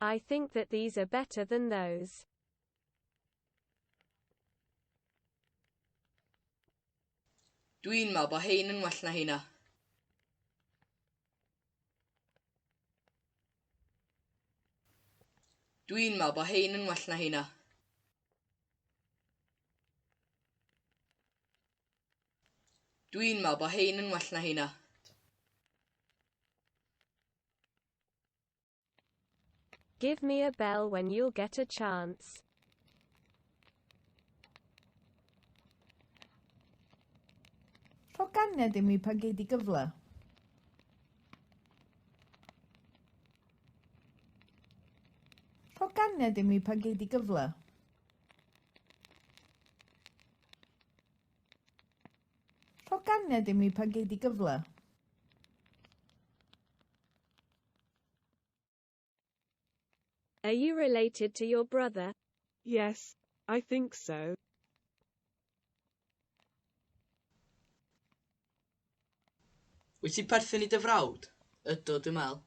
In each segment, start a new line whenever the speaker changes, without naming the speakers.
I think that these are better than those. Dwi'n meddwl bod hein yn well na heina. Dwi'n meddwl bod hein yn well na heina. Dwi'n meddwl bod hein yn well na heina. Give me a bell when you'll get a chance. Rho ganed i mi pan gei di gyfle. Rho ganed i mi pan gei di gyfle. Rho ganed i mi pan gei di gyfle. Are you related to your brother? Yes, I think so. Wyt ti'n perthyn i dy frawd? Ydw, dwi'n meddwl.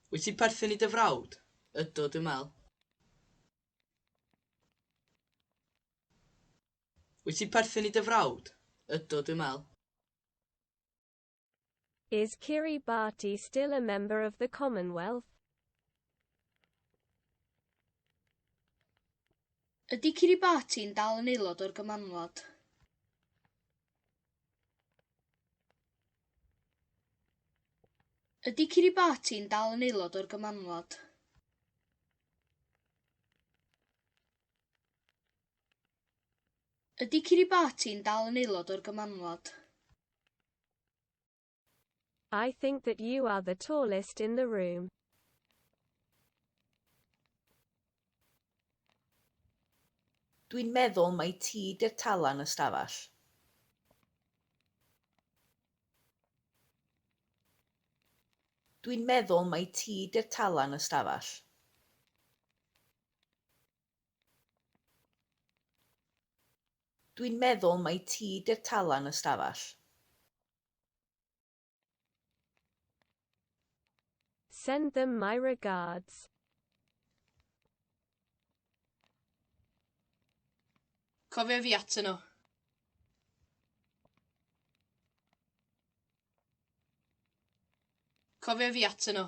Wyt ti'n perthyn i dy frawd? Ydw, dwi'n meddwl. Wyt ti'n perthyn i dy frawd? Ydw, dwi'n meddwl. Is Kiribati still a member of the Commonwealth? Ydy Kiribati yn dal yn aelod o'r Gymanwlad? Ydy Kiribati yn dal yn aelod o'r Gymanwlad? Ydy Kiribati'n dal yn aelod o'r Gymanwlad? I think that you are the tallest in the room. Dwi'n meddwl mai ti 'di'r tala yn y stafell. Dwi'n meddwl mai ti 'di'r tala yn y stafell. Dwi'n meddwl mai ti 'di'r talan y stafell. Send them my regards. Cofia fi atyn nhw. Cofia fi atyn nhw.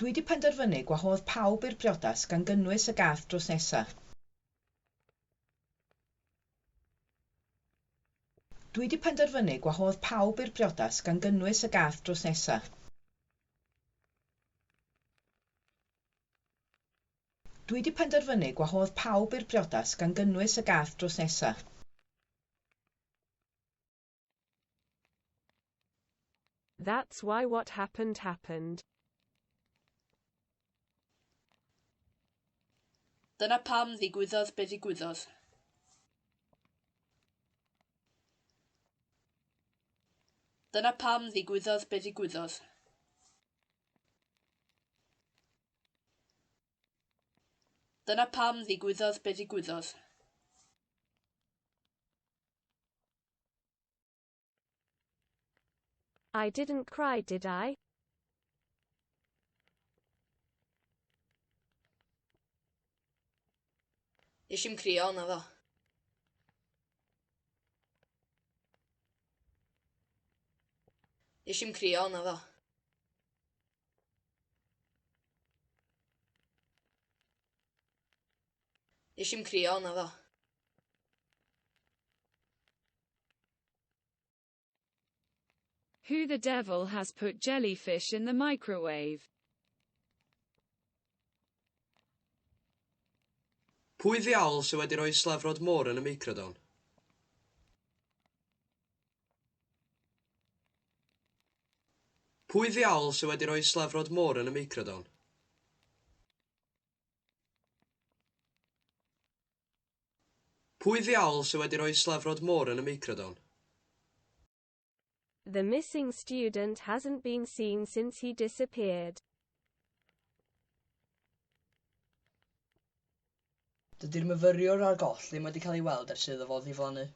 Dwi di penderfynu gwahodd pawb i'r priodas gan gynnwys y gath drws nesa. Dwi di penderfynu gwahodd pawb i'r priodas gan gynnwys y gath drws nesa. Dwi di penderfynu gwahodd pawb i'r priodas gan gynnwys y gath drws nesa. That's why what happened happened. Dyna pam ddigwyddodd be ddigwyddodd. Dyna pam ddigwyddodd be ddigwyddodd. Dyna pam ddigwyddodd be ddigwyddodd. I didn't cry, did I? Nes i'n crio, na fo. Nes i'n crio, na fo. Nes i'm crio, naddo. Who the devil has put jellyfish in the microwave? Pwy ddiawl sydd wedi rhoi slefrod môr yn y meicrodon? Pwy ddiawl sydd wedi rhoi slefrod môr yn y meicrodon? Pwy ddiawl sy wedi rhoi slefrod môr yn y meicrodon? The missing student hasn't been seen since he disappeared. Dydy'r myfyriwr â'r goll ddim wedi cael ei weld ers iddo fo ddiflannu.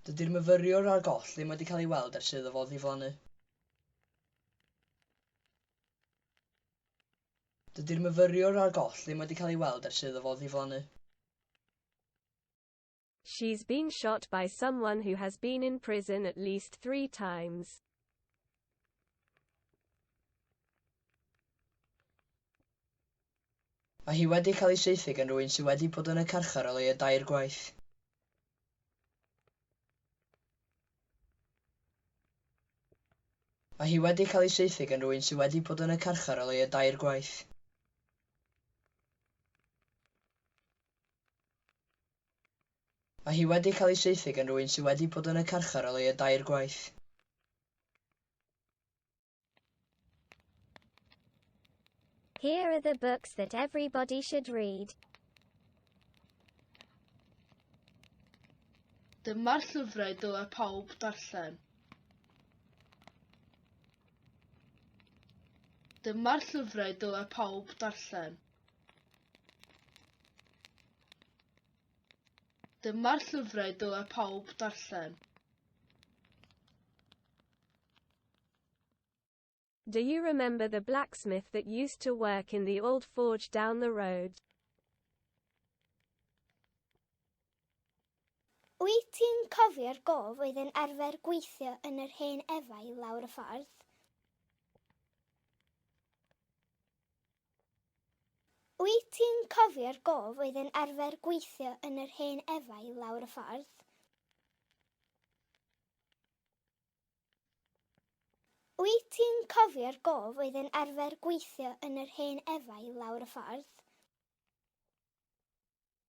Dydy'r myfyriwr ar goll ddim wedi cael ei weld ers iddo fo ddiflannu. Dydy'r myfyriwr ar goll ddim wedi cael ei weld ers iddo fo ddiflannu. She's been shot by someone who has been in prison at least three times. Mae hi wedi cael ei saethu gan rwy'n sydd wedi bod yn y carchar o leiaf dair gwaith. Mae hi wedi cael ei saethu gan rwy'n sydd wedi bod yn y carchar o leiaf dair gwaith. Mae hi wedi cael ei saethu gan rywun sydd wedi bod yn y carchar o leiaf dair gwaith. Here are the books that everybody should read. Dyma'r llyfrau dylai pawb darllen. Dyma'r llyfrau dylai pawb darllen. Dyma'r llyfrau dylai pawb darllen. Do you remember the blacksmith that used to work in the old forge down the road? Wyt ti'n cofio'r gof oedd yn arfer gweithio yn yr hen efau lawr y ffordd? Wyt ti'n cofio'r gof oedd yn arfer gweithio yn yr hen efail lawr y ffordd? Wyt ti'n cofio'r gof oedd yn arfer gweithio yn yr hen efail lawr y ffordd?